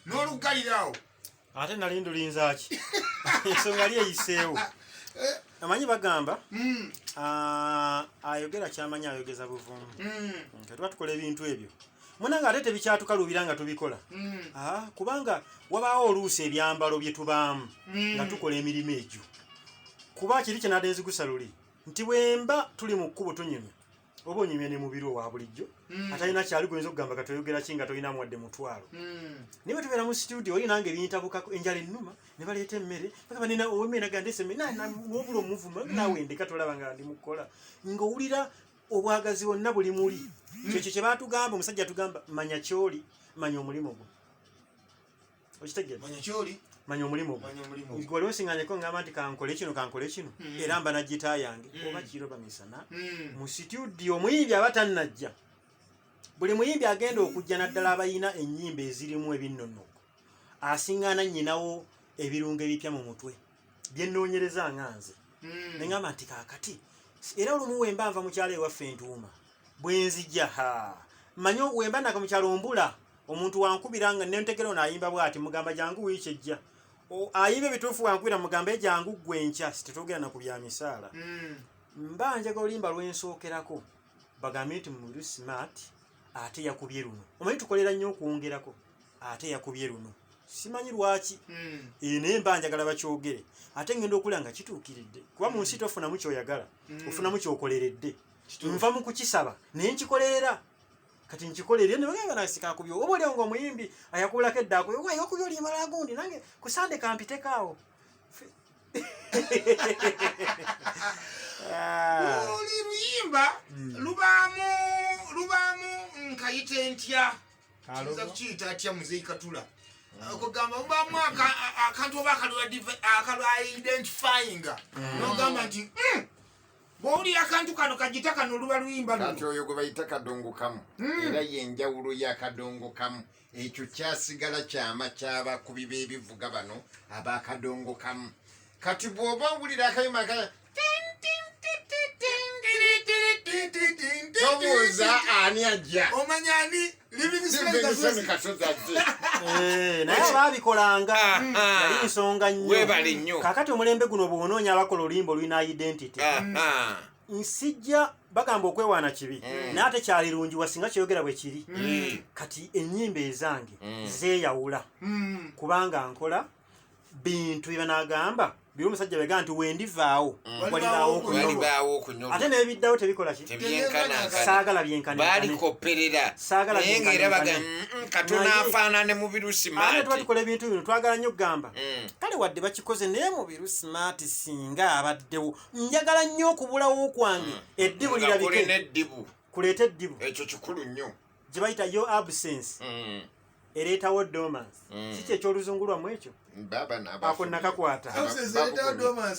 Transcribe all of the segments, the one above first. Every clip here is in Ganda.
nolugalirawo ate nali ndulinzaki ensonga yali eyiseewo eh. amanyi bagamba hmm. ayogera kyamanyi ayogeza buvumu hmm. nti tuba tukola ebintu ebyo munange ate tebikyatukaluubira nga tubikola mm. ah, kubanga wabaawo oluusi ebyambalo bye tubaamu mm. nga tukola emirimu egyo kuba kiri kye nade nzigusa luli nti bwemba tuli mu kkubo tunyumya oba onyumya ne mubiri owa bulijjo mm. atalina kyali goyinza okugamba katoyogera ki nga tolinamu wadde mutwalo naye bwetubeera mu situdio oli nange ebiyintabukako enjala ennuma ne baleeta emmere bakabanena owemere nagandeseme nobula omuvuma nawe ndeka tolaba nga ndi mukukola ng'owulira obwagazi bonna buli muli mm. kyekyo kye batugamba omusajja atugamba manya kyoli manya omulimu gwo okitegeeakyoli manya omulimu gwewali osiŋanyeko ngamba nti kankole kino kankole kino mm. era mba nagita yange mm. oba kiro bamisana mu situdio omuyimbi aba tannajja buli muyimbi agenda okujja naddala abalina ennyimba ezirimu ebinnonoko asiŋŋana nnyinawo ebirungo ebipya mu mutwe byenoonyereza nga nze mm. ne ngamba nti kaakati era olumu wemba nva mukyalo ewaffe entuuma bwe nzija ha manye wemba naka mukyalo mbula omuntu wankubira nga nentegera ono ayimba bwati mugamba jangu wiiki ejja ayimba ebituufu wankubira mugamba ejangu ggwe enkya sitetwogera na ku bya misaala mm. mba njaga olimba lwensookerako bagambe nti muli smart ate yakubye luno omanyi tukolera nnyo okwongerako ate yakubye luno simanyi lwaki hmm. eh, naye mba njagala bakyogere ate ngenda okula nga kituukiridde kuba mu nsi tofunamu kyoyagala hmm. ofunamu kyokoleredde nva mu kukisaba naye nkikolerera kati nkikolere ne bagamba na sika kubyo obo leo ngo muyimbi ayakula ke dako wa yo kubyo limala gundi nange kusande kampite kawo ah. oli luyimba hmm. lubamu lubamu nkayite ntya Nza kukiyita atya muzeeyi katula mm. kugamba mubamu akantu oba akalwaidentifinga mm. nogamba nti mm, bwowulira akantu kano kagita kano oluba luyimba kati oyo gwe bayita kadongo kamu era yenjawulo ya kadongo kamu ekyo kyasigala kyama kyabakubi b'ebivuga bano abakadongo kamu kati bwoba owulira akayima akaya tobuuza ani ajja omanya ani eh, naye baabikolanga ah, hmm. ah. yali nsonga nnyo kakati omulembe guno bwonoonya abakola oluyimba olulina identity ah, nsijja bagamba okwewaana kibi mm. naye ate kyalirungiwa singa kyeyogera bwe kiri mm. kati ennyimba ezange mm. zeeyawula kubanga nkola bintu byebanagamba biri omusajja bega nti wendivaawo mm. walibaawo okunyolwa ate nebiddawo tebikola ki saagala byenkanbalikopperera naye nga era baga katona afaanane mu birusimaati tuba tukola ebintu bino twagala nnyo okugamba mm. kale wadde bakikoze naye mu birusimaati singa abaddewo njagala nnyo okubulawo kwange mm. eddibu lirabike kuleeta eddibu ekyo kikulu nnyo gye bayita yo absence mm. ereetawo dormance mm. si kyekyoluzungu lwamu ekyo ako nakakwata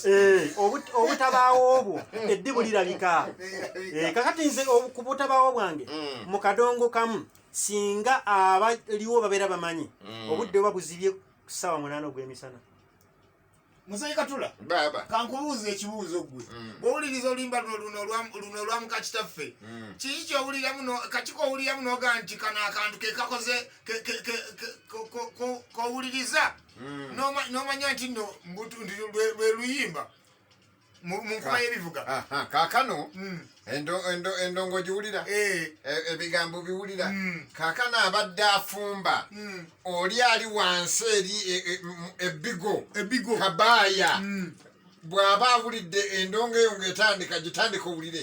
eh, obutabaawo obwo eddi bulirabika eh, kakati nze ku butabaawo bwange mm. mu kadongo kamu singa abaliwo babeera bamanyi mm. obudde oba buzibye kusaawa munaana ogw'emisana muzeyi katula baba kankubuuza ekibuuzo gwe mm. bwowuliriza olimba luno olwamuka kitaffe mm. kiki kyowuliramu kakiko owuliramu noga nti kano akantu kekakoze kowuliriza mm. nomanya nti no lweluyimba mu nkuba y'ebivuga kaakano hmm. endongo giwulira eh. e, ebigambo biwulira hmm. kaakano abadde afumba hmm. oli ali wansi eri e, e, ebbigo ebbigo kabaaya bw'aba awulidde endongo eyo ng'etandika gitandika owulire